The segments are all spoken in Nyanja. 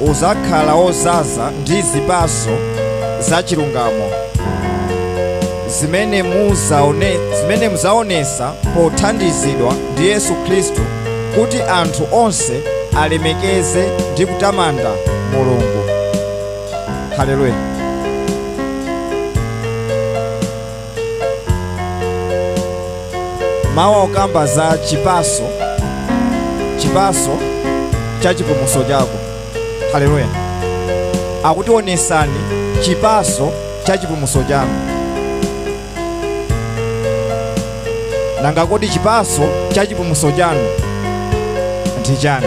udzakhala wodzaza ndi zipatso za chilungamo zimene mudzaonetsa pothandizidwa ndi Yesu Khristu kuti anthu onse alemekeze ndi kutamanda Mulungu. Haleluya. mawa okamba za chipaso chipaso cha chipumuso chako haleluya akuti onesani chipaso cha chipumuso chako nanga kodi chipaso cha chipumuso chanu ndi chani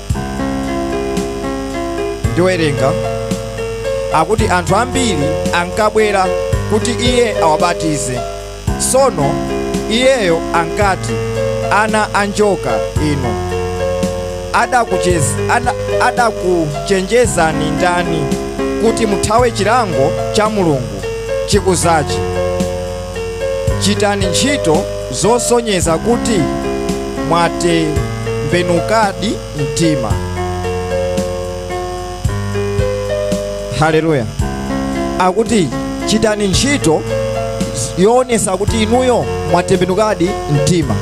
Ndiwerenga akuti anthu ambiri ankabwera kuti iye awabatize. Tsono iyeyo ankati, Ana a njoka inu, adakuchenjezani ndani kuti muthawe chilango cha Mulungu chikudzachi? Chitani ntchito zosonyeza kuti mwatembenukadi mtima. Haleluya. Akuti chitani ntchito yoonesa kuti inuyo mwatembenukadi mtima.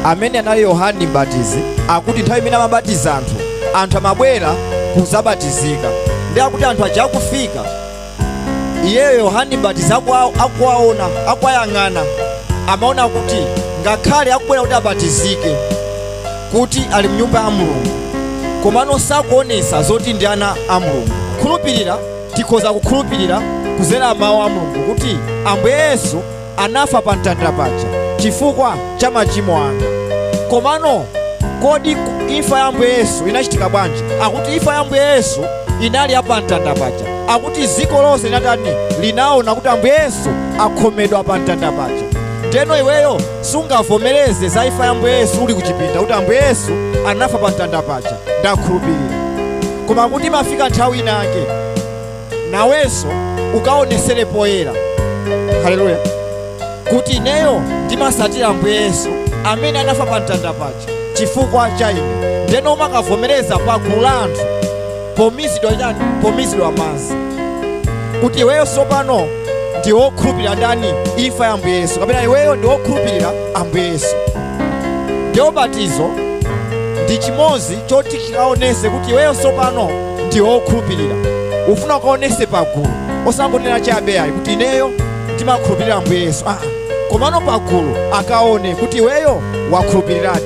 Amene anali Yohani Mbatizi akuti nthawi imene amabatiza anthu, anthu amabwera kuzabatizika. Ndi akuti anthu aja akufika iyeyo yohane mbatizi akuwaona akuwayang'ana amaona kuti ngakhale akubwera kuti abatizike kuti ali mnyumba ya mulungu komano sakuonesa zoti ndi ana a mulungu kukhulupirira tikhoza kukhulupirira kuzera mawu a mulungu kuti ambuye yesu anafa pa mtanda paja chifukwa cha machimo anu. Komano kodi imfa ya Ambuye Yesu inachitika bwanji? Akuti imfa ya Ambuye Yesu inali ya pa mtanda paja. Akuti dziko lonse linatani linaona kuti Ambuye Yesu akhomedwa pa mtanda paja. Ndeno iweyo sungavomereze za imfa ya Ambuye Yesu uli kuchipinda kuti Ambuye Yesu anafa pa mtanda paja. Ndakhulupirira. Koma kuti imafika nthawi inake nawenso ukaonesere poyera haleluya kuti ineyo ndimasatira ambuye yesu amene anafa pa mtanda paja chifukwa cha ine ndeno umakavomereza pa gulu la anthu pomizidwa m'chani pomizidwa m'madzi kuti iweyo tsopano ndi wokhulupirira ndani imfa ya ambuye yesu kapena iweyo ndi wokhulupirira ambuye yesu ndi ubatizo ndi chimodzi choti chikaonese kuti iweyo tsopano ndi okhulupirira ufuna ukaonese pagulu osangonena chabe ayi kuti ineyo ndimakhulupirira ambuye yesu aa komano pagulu akaone kuti iweyo wakhulupiriradi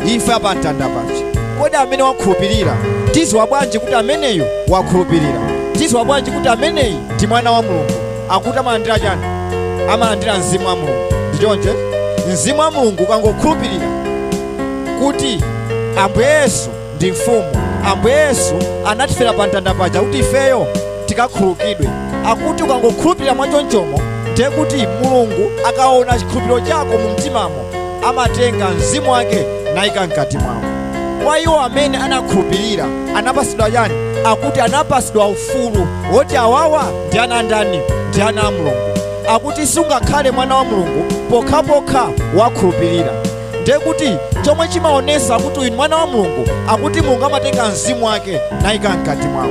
imfa ya pamtanda paja kodi amene wakhulupirira tiziwa bwanji kuti ameneyu wakhulupirira tiziwa bwanji kuti ameneyi ndi mwana wa mulungu akuti amalandira chani amalandira mzimu wa mulungu ndi choncho mzimu wa mulungu ukangokhulupirira kuti ambuye yesu ndi mfumu ambuye yesu anatifera pa mtanda paja kuti ifeyo tikakhululukidwe akuti ukangokhulupirira mwachonchomo ndiye kuti mulungu akaona chikhulupiriro chako mu mtimamo amatenga mzimu wake nayika mkati mwawo kwa iwo amene anakhulupirira anapasidwa chani akuti anapasidwa ufulu woti awawa ndi ana a ndani ndi ana a mulungu akuti sungakhale mwana wa mulungu pokhapokha wakhulupirira nde kuti chomwe chimaonesa kuti uyu ni mwana wa mulungu akuti mulungu amatenga mzimu wake nayika mkati mwako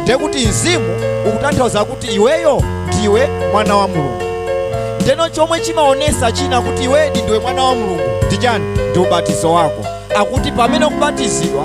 nde kuti mzimu ukutanthauza kuti iweyo ndiwe mwana wa mulungu ndeno chomwe chimaonesa china kuti iwedi ndiwe mwana wa mulungu ndi chani ndi ubatizo wako akuti pamene ukubatizidwa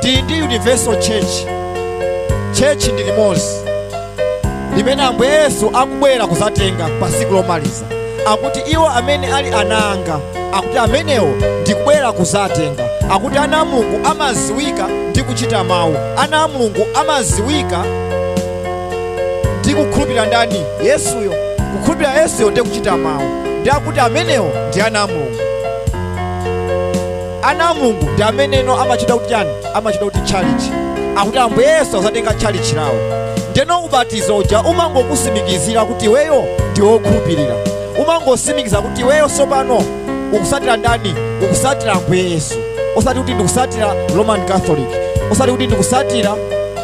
tili ndi universal church church ndi limozi limene ambuye yesu akubwera kuzatenga pa siku lomaliza akuti iwo amene ali ana anga akuti amenewo ndikubwera kuzatenga akuti ana a mulungu amaziwika ndi kuchita mawu ana a mulungu amaziwika ndi kukhulupirira ndani yesuyo kukhulupirira yesuyo ndi kuchita mawu ndi akuti amenewo ndi ana a mulungu Ana a Mulungu ndi ameneno amachitcha kuti chani? Amachitcha kuti tchalitchi. Akuti Ambuye Yesu akuzatenga tchalitchi lawo. Ndeno ubatizo uja umangokusimikizira kuti iweyo ndi wokhulupirira. Umangosimikiza kuti iweyo sopano ukusatira ndani? Ukusatira Ambuye Yesu. Osati kuti ndikusatira Roman Catholic. Osati kuti ndikusatira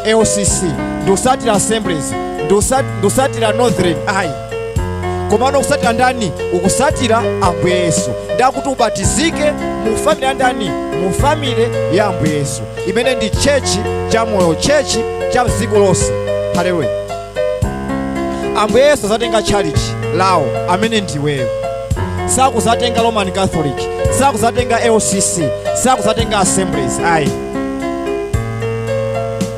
LCC. Ndikusatira Assemblies. Ndusat- Ndusatira Northern. Ayi. komano ukusatira ndani ukusatira ambuye yesu ndi akuti ubatizike mu family ya ndani mu family ya ambuye yesu imene ndi chechi cha moyo chechi cha dziko lonse haleluya ambuye yesu azatenga tchalichi lawo amene ndiweyo sakuzatenga roman catholic sakuzatenga lcc sakuzatenga assemblies ayi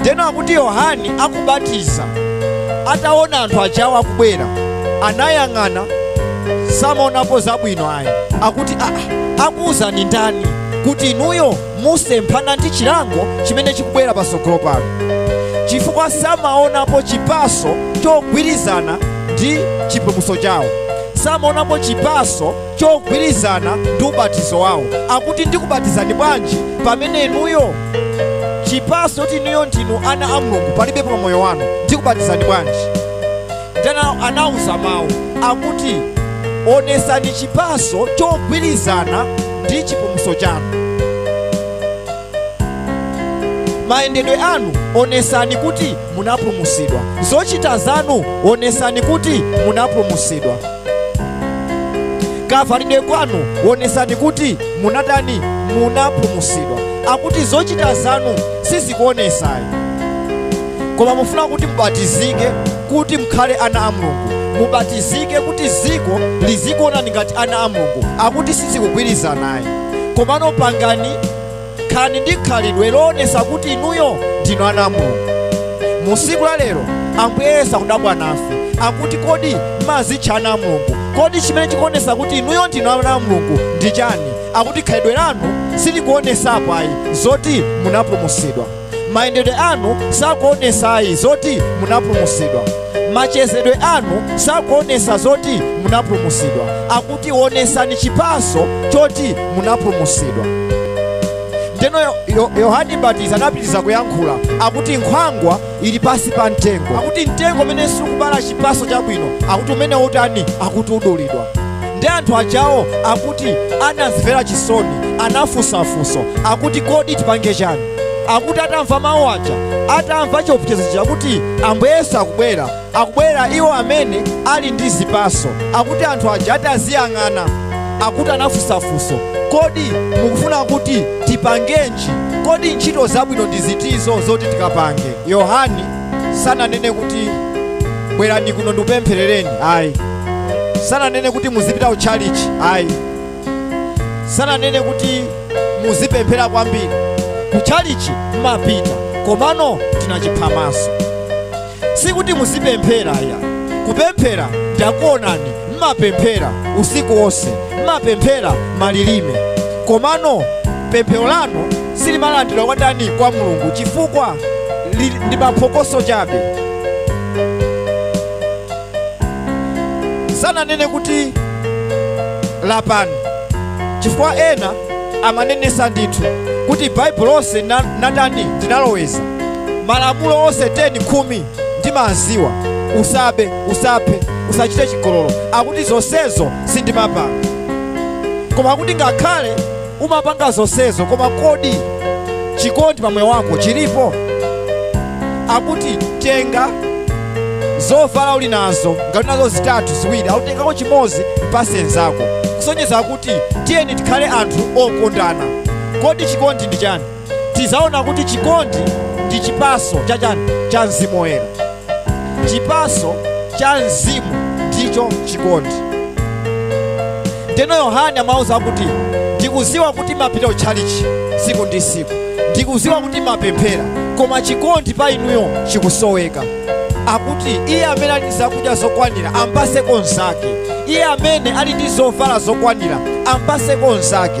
Ndeno akuti Yohane akubatiza ataona anthu ajawo akubwera anayang'ana samaonapo zabwino ayi akuti aa akuwuzani ndani kuti inuyo musemphana ndi chilango chimene chikubwera pasogolo pano chifukwa samaonapo chipaso chogwirizana ndi chipulumuso chawo samaonapo chipaso chogwirizana ndi ubatizo wawo akuti ndikubatizani bwanji pamene inuyo chipaso kuti inuyo ndinu ana a mulungu palibe pa moyo wanu ndikubatizani bwanji nde anawauza mawu akuti onesani chipaso chogwirizana ndi chipulumuso chanu mayendedwe anu onesani kuti munapulumusidwa zochita zanu onesani kuti munapulumusidwa kavalidwe kwanu wonesani kuti munatani munapulumusidwa akuti zochita zanu sizikuonesayi koma mufuna kuti mubatizike kuti mukhale ana a mulungu mubatizike kuti dziko lizikuonani ngati ana a mulungu akuti sizikugwirizanayi komano pangani Khalani ndi khalidwe loonetsa kuti inuyo ndinu ana a Mulungu. Mu tsiku la lero, Ambuye Yesu akudabwa nafe, akuti, Kodi m'madzitcha ana a Mulungu? Kodi chimene chikuonetsa kuti inuyo ndinu ana a Mulungu ndi chani? Akuti khalidwe lanu silikuonetsapo ayi zoti munapulumutsidwa. mayendedwe anu sakuonesayi zoti munapulumusidwa machezedwe anu sakuonesa zoti munapulumusidwa akuti onesani chipaso choti munapulumusidwa ndeno Yo- Yo- yohani mbatizi anapitiriza kuyankhula akuti nkhwangwa ili pasi pa mtengo akuti mtengo umene sukubala chipaso chabwino akuti umene utani akuti udulidwa ndi anthu ajawo akuti anazimvera chisoni anafunsafunso akuti kodi tipange chani akuti atamva mawu aja atamva chiopsezo chija kuti ambuye yesu akubwera akubwera iwo amene ali ndi zipaso akuti anthu aja ataziyang'ana akuti anafunsafunso kodi mukufuna kuti tipangenji kodi ntchito zabwino ndi zitizo zoti tikapange yohane sananene kuti bwerani kuno ndikupempherereni ayi sananene kuti muzipita ku tchalichi ayi sananene kuti muzipemphera kwambiri kutchalichi mmapita komano ndi zachiphamaso sikuti muzipemphera ya kupemphera ndakuonani mmapemphera usiku wonse mmapemphera malilime komano pemphero lanu silimalandiridwa kwa ndani kwa mulungu chifukwa li- ndi maphokoso chabe sananene kuti lapani chifukwa ena amanenesa ndithu kuti baibulo lonse ndinatani ndinaloweza malamulo onse 10 khumi ndimaziwa usabe usaphe usachite chigololo akuti zonsezo sindimapanga koma akuti ngakhale Umapanga zonsezo, koma kodi chikondi pa moyo wako chilipo? Akuti tenga zovala uli nazo, ngati uli nazo zitatu ziwiri, akuti tengako chimodzi mpase nzako, kusonyeza kuti tiyeni tikhale anthu okondana. Kodi chikondi ndi chani? tizaona kuti chikondi ndi chipaso cha chani cha mzimu woyera chipaso cha mzimu ndicho chikondi ndeno yohane amauza kuti ndikuziwa kuti mumapita ku tchalichi tsiku ndi tsiku ndikuziwa kuti mumapemphera koma chikondi pa inuyo chikusoweka akuti iye amene ali ndi zakudya zokwanira ampaseko mnzake iye amene ali ndi zovala zokwanira ampaseko mnzake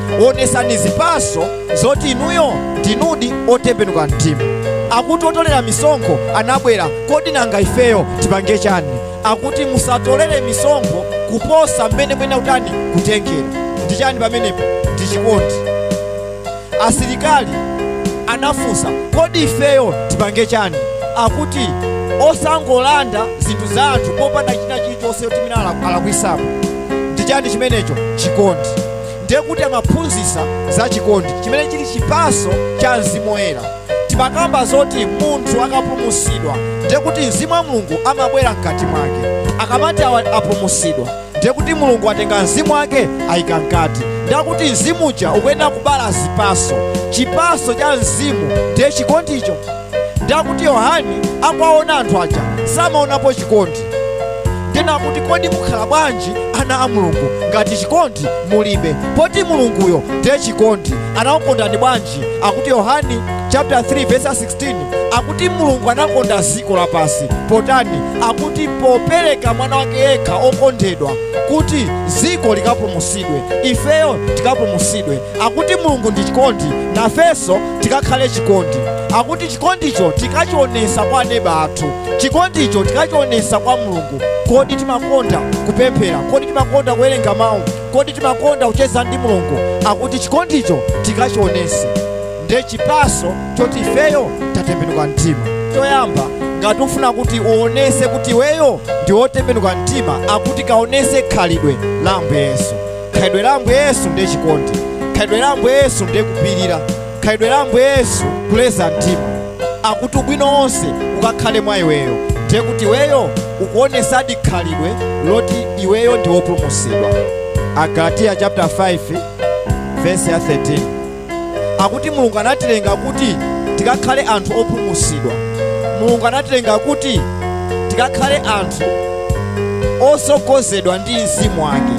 onesani zipaso zoti inuyo ndinudi otembenuka mtima akuti otolera misonkho anabwera kodi nanga ifeyo tipange chani akuti musatolere misonkho kuposa mmene mwenera kutani kutengera ndi chani pamenepo ndi chikondi asilikali anafunsa kodi ifeyo tipange chani akuti osangolanda zinthu za anthu popanda china chilichonse choti mwina alakwisapo ndi chani chimenecho chikondi ndiye kuti amaphunzitsa za chikondi chimene chili chipatso cha mzimu woyera timakamba zoti munthu akapulumutsidwa ndiye kuti mzimu wa mulungu amabwera mkati mwake akamati awa apulumutsidwa ndiye kuti mulungu atenga mzimu wake ayika mkati ndiye kuti mzimu uja ukuyenera kubala zipatso chipatso cha mzimu ndiye chikondicho nde akuti yohane akuwaona anthu aja samaonapo chikondi nde akuti kodi mukhala bwanji ana a mulungu ngati chikondi mulibe poti mulunguyo ndiye chikondi anakukondani bwanji akuti yohane chapter 3 verse 16 akuti mulungu anakonda dziko lapansi potani akuti popereka mwana wake yekha okondedwa kuti dziko likapulumutsidwe ifeyo tikapulumutsidwe akuti mulungu ndi chikondi nafenso tikakhale chikondi akuti chikondicho tikachionesa kwa aneba athu chikondicho tikachionesa kwa mulungu kodi timakonda kupemphera kodi timakonda kuwerenga mawu kodi timakonda kucheza ndi mulungu akuti chikondicho tikachionese nde chipaso choti ifeyo tatembenuka mtima choyamba ngati ufuna kuti uonese kuti iweyo ndi wotembenuka mtima akuti kaonese khalidwe la ambuye yesu khalidwe la ambuye yesu ndiye chikondi khalidwe la ambuye yesu ndiye kupirira khalidwe la ambuye yesu kuleza mtima akuti ubwino wonse ukakhale mwa iweyo ndiye kuti iweyo ukuonesadi khalidwe loti iweyo ndi wopulumutsidwa agalatiya chapter 5 verse ya 13 akuti Mulungu anatilenga kuti tikakhale anthu opulumutsidwa. Mulungu anatilenga kuti tikakhale anthu otsogozedwa ndi mzimu wake,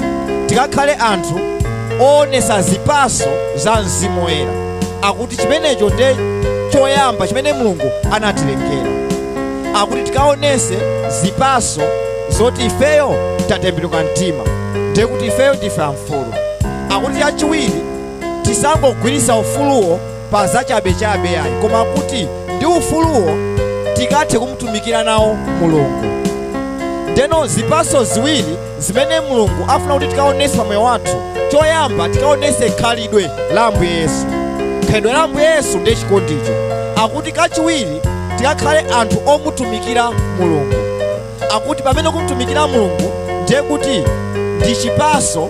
tikakhale anthu oonetsa zipatso za mzimu woyera. Akuti chimenecho ndiye choyamba chimene Mulungu anatilengera, akuti tikaonetse zipatso zoti ifeyo tatembenuka mtima, ndiye kuti ifeyo ndife amfulu. Akuti chachiwiri tisangogwiritsa ufuluwo pa zachabechabe ayi koma kuti ndi ufuluwo tikathe kumtumikira nawo mulungu ndeno zipaso ziwiri zimene mulungu afuna kuti tikaonese pa moyo wathu choyamba tikaonese khalidwe la ambuye yesu khalidwe la ambuye yesu ndiye chikondicho akuti kachiwiri tikakhale anthu omutumikira mulungu akuti pamene kumtumikira mulungu ndiye kuti ndi chipaso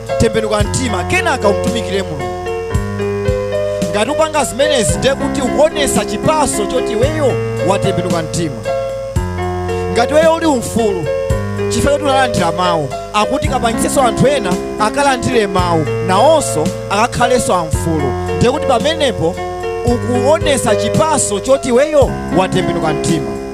tembenuka mtima kenaka umtumikire mulungu ngati upanga zimenezi ndiye kuti ukuonesa chipaso choti iweyo watembenuka mtima ngati iweyo uli umfulu chifukwa choti unalandira mawu akuti kapangitsenso anthu ena akalandire mawu nawonso akakhalenso amfulu ndiye kuti pamenepo ukuonesa chipaso choti iweyo watembenuka mtima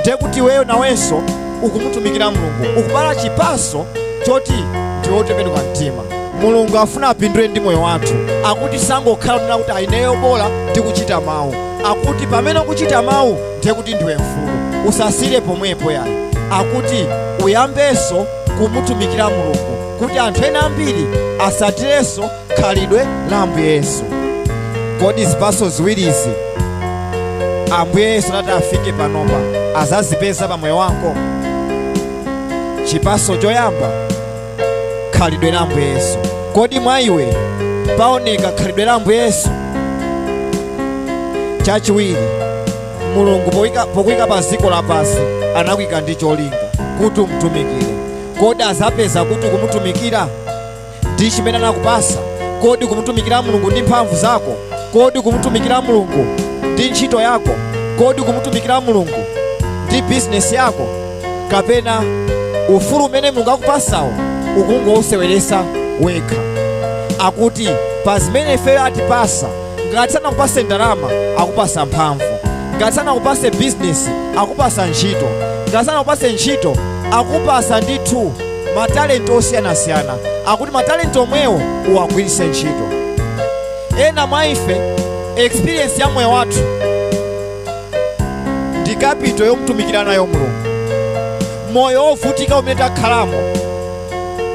ndiye kuti iweyo nawenso ukumutumikira mulungu ukubala chipaso choti ndiwe wotembenuka mtima mulungu afuna apindule ndi moyo wathu akuti usangokhala ukunena kuti ayi ineyo bola ndikuchita mawu akuti pamene ukuchita mawu ndiye kuti ndiwe mfulu usasire pomwepo yayi akuti uyambenso kumutumikira mulungu kuti anthu ena ambiri atsatirenso khalidwe la ambuye yesu kodi zipatso ziwirizi ambuye yesu atati afike panopa azazipeza pa moyo wako chipatso choyamba khalidwe la ambuye yesu kodi mwa iwe paoneka khalidwe la ambuye yesu chachiwiri mulungu pokuika pa dziko lapansi anakuika ndi cholinga kuti umtumikire kodi azapeza kuti ukumutumikira ndi chimene anakupasa? Kodi kumutumikira Mulungu ndi mphamvu zako? Kodi ukumutumikira Mulungu ndi ntchito yako? Kodi ukumutumikira Mulungu ndi bizinesi yako? Kapena ufulu umene Mulungu akupasawo ukungouseweresa wekha? Akuti pa zimene ifeyo atipasa, ngati sanakupase ndalama akupasa mphamvu, ngati sanakupase bizinesi akupasa ntchito, ngati sanakupase ntchito akupasa ndithu matalenti osiyanasiyana akuti matalenti omwewo uwagwiritse ntchito ena mwa ife experience ya moyo wathu ndi capital yomtumikira nayo mulungu moyo wovutika umene takhalamo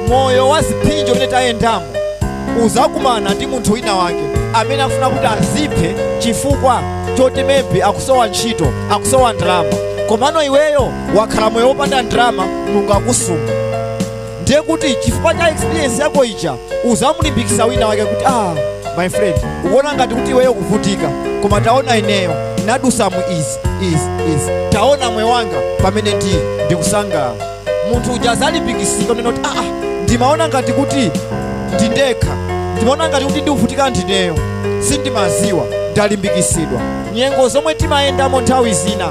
moyo wa zipsinjo umene tayendamo uzakumana ndi munthu wina wake amene afuna kuti aziphe chifukwa choti maybe akusowa ntchito akusowa ndalama komano iweyo wakhala moyo wopanda ndalama mulungu akusunga ndiye kuti chifukwa cha experience yako ija uzamulimbikisa wina wake kuti ah my friend ukuona ngati kuti iweyo ukuvutika koma taona ineyo ndadutsamo izi izi izi taona moyo wanga pamene ndi ndikusangalala munthu uja azalimbikisika kunena kuti ah ndimaona ngati kuti ndindekha ndimaona ngati kuti ndikuvutika ndineyo sindimaziwa ndalimbikisidwa nyengo zomwe timayendamo nthawi zina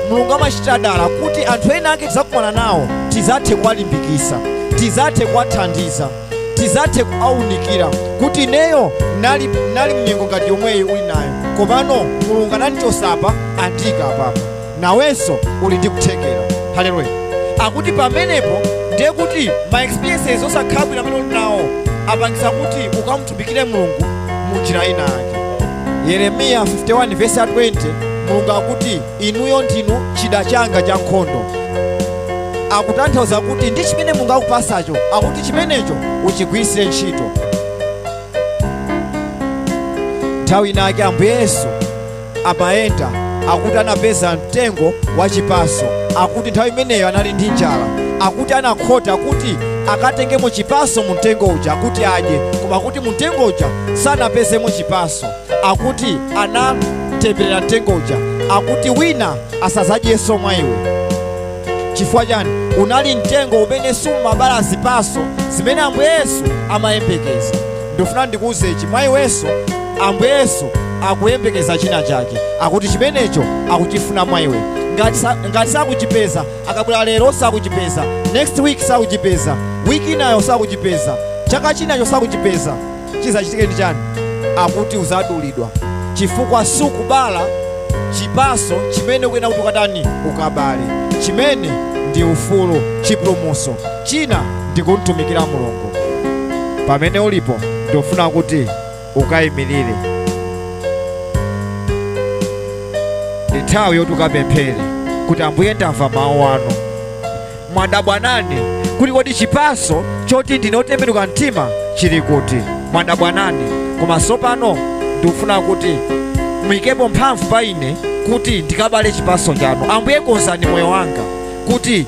mulungu amachitira dala kuti anthu ena ake tidzakumana nawo tizathe kuwalimbikisa tizathe kuwathandiza tizathe kuwaunikira kuti ineyo nali, nali mnyengo ngati yomweyi uli nayo komano mulungu anandichosa apa andiika apapa nawenso uli ndi kuthekera haleluya akuti pamenepo ndiye kuti ma experiences osakhala bwino amene uli nawo apangise kuti ukamu atumikire mulungu mu njira ina yake yeremiya 51 vesi ya 20 mulungu akuti inuyo ndinu chida changa cha nkhondo akutanthauza kuti ndi chimene mulungu akupasacho akuti chimenecho uchigwiritsire ntchito nthawi inayake ambuye yesu amayenda akuti anapeza mtengo wa chipaso akuti nthawi imeneyo anali ndi njala akuti anakhota kuti akatengemo chipaso mu mtengo uja kuti adye koma kuti mu mtengo uja sanapezemo chipaso akuti anatemberera mtengo uja akuti wina asazadyenso mwa iwe chifukwa chani unali mtengo umene sumabala zipaso zimene ambuye yesu amayembekeza ndikufuna ndikuuze ichi mwa iwenso ambuye yesu akuyembekeza china chake akuti chimenecho akuchifuna mwa iwe ngati sa- ngati sakuchipeza akabwera lero sakuchipeza next week sakuchipeza wiki inayo sakuchipeza chaka chinacho sakuchipeza chizachitike ndi chani akuti uzadulidwa chifukwa sukubala chipaso chimene ukuyenera kuti ukatani ukabale chimene ndi ufulu chipulumuso China ndi kumtumikira Mulungu. Pamene ulipo, ndikufuna kuti ukayimirire. Ndi nthawi yoti ukapemphere kuti Ambuye, ndamva mawu anu, mwadabwa nane kuti kodi chipatso choti ndine otembenuka mtima chili kuti? Mwadabwa nane, koma tsopano ndikufuna kuti muyikepo mphamvu pa ine kuti ndikabale chipatso chanu. Ambuye, konzani moyo wanga kuti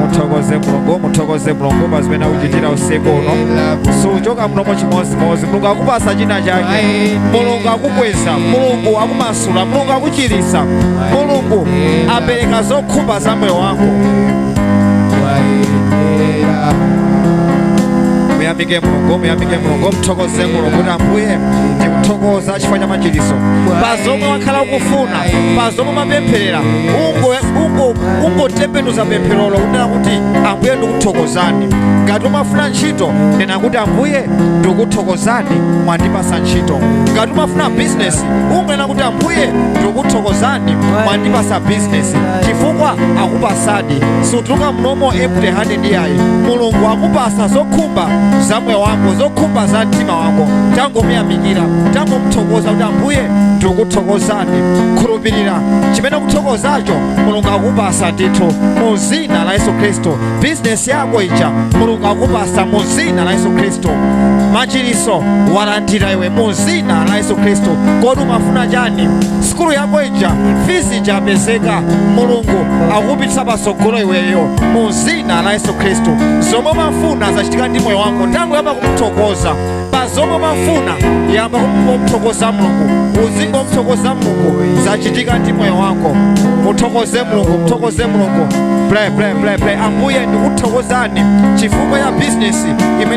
muthokoze mulungu muthokoze mulungu pa zimene akukuchitira usiku uno siuchoka muno mochimodzimodzi mulungu akupasa china chake mulungu akukweza mulungu akumas akumasula mulungu akuchiritsa mulungu apereka zokhumba za moyo wako wayenera muyamike mulungu muyamike mulungu mthokoze mulungu kuti ambuye ndikuthokoza chifukwa cha machiritso pa zomwe wakhala ukufuna pa zomwe mapempherera ungo- ungo- ungotembenuza pempherolo kunena kuti ambuye ndikuthokozani ngati umafuna ntchito nena kuti ambuye ndikuthokozani mwandipasa ntchito ngati umafuna bizinesi unena kuti ambuye ndikuthokozani mwandipasa bizinesi chifukwa akupasadi sutuluka muno empty handed yayi mulungu akupasa zokhumba za moyo wako zokhumba za mtima wako tangomuyamikira tangomuthokoza kuti ambuye ndikuthokozani khulupirira chimene ukuthokozacho mulungu akupasa ndithu mu zina la yesu khristu bizinesi yako ija mulungu akupasa mu zina la yesu khristu machiriso walandira iwe mu zina la yesu khristu kodi umafuna chani sikulu yako ija fizi ija apezeka mulungu akupitisa patsogolo iweyo mu zina la yesu khristu zomwe umafuna zachitika ndi moyo wako tangoyamba kumuthokoza pa zomwe umafuna yamba kumuthokoza mulungu uzingomthokoza mulungu zachitika ndi moyo wako muthokoze mulungu muthokoze mulungu pray pray pray pray ambuye ndikuthokozani chifukwa cha bizinesi imene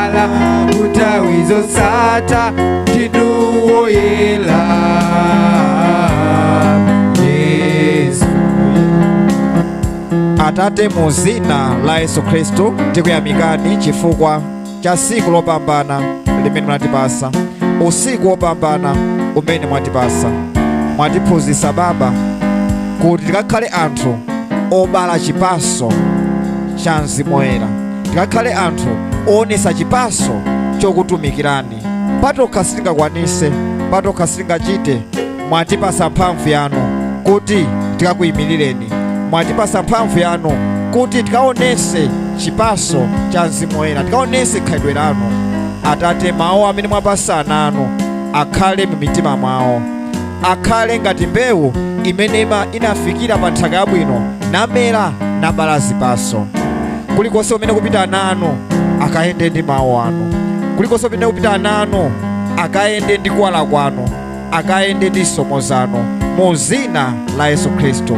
wala kutawi zosata ndinuwo yela yesu atate mu zina la yesu khristu tikuyamikani chifukwa cha tsiku lopambana limene mwatipasa usiku wopambana umene mwatipasa mwatiphunzitsa baba kuti tikakhale anthu obala chipaso cha mzimu woyera ngakhale anthu oonesa chipaso chokutumikirani patokha sitingakwanise patokha sitingachite mwatipasa mphamvu yanu kuti tikakuyimirireni mwatipasa mphamvu yanu kuti tikaonese chipaso cha mzimu woyera tikaonese khalidwe lanu atate mawu amene mwapasa ana anu akhale mu mitima mwawo akhale ngati mbewu imene ima- inafikira pa nthaka yabwino namera nabala zipaso kulikonse kumene kupita ana anu akayende ndi mawu anu kulikonse kumene kupita ana anu akayende ndi kuwala kwanu akayende ndi zisomo zanu mu zina la yesu khristu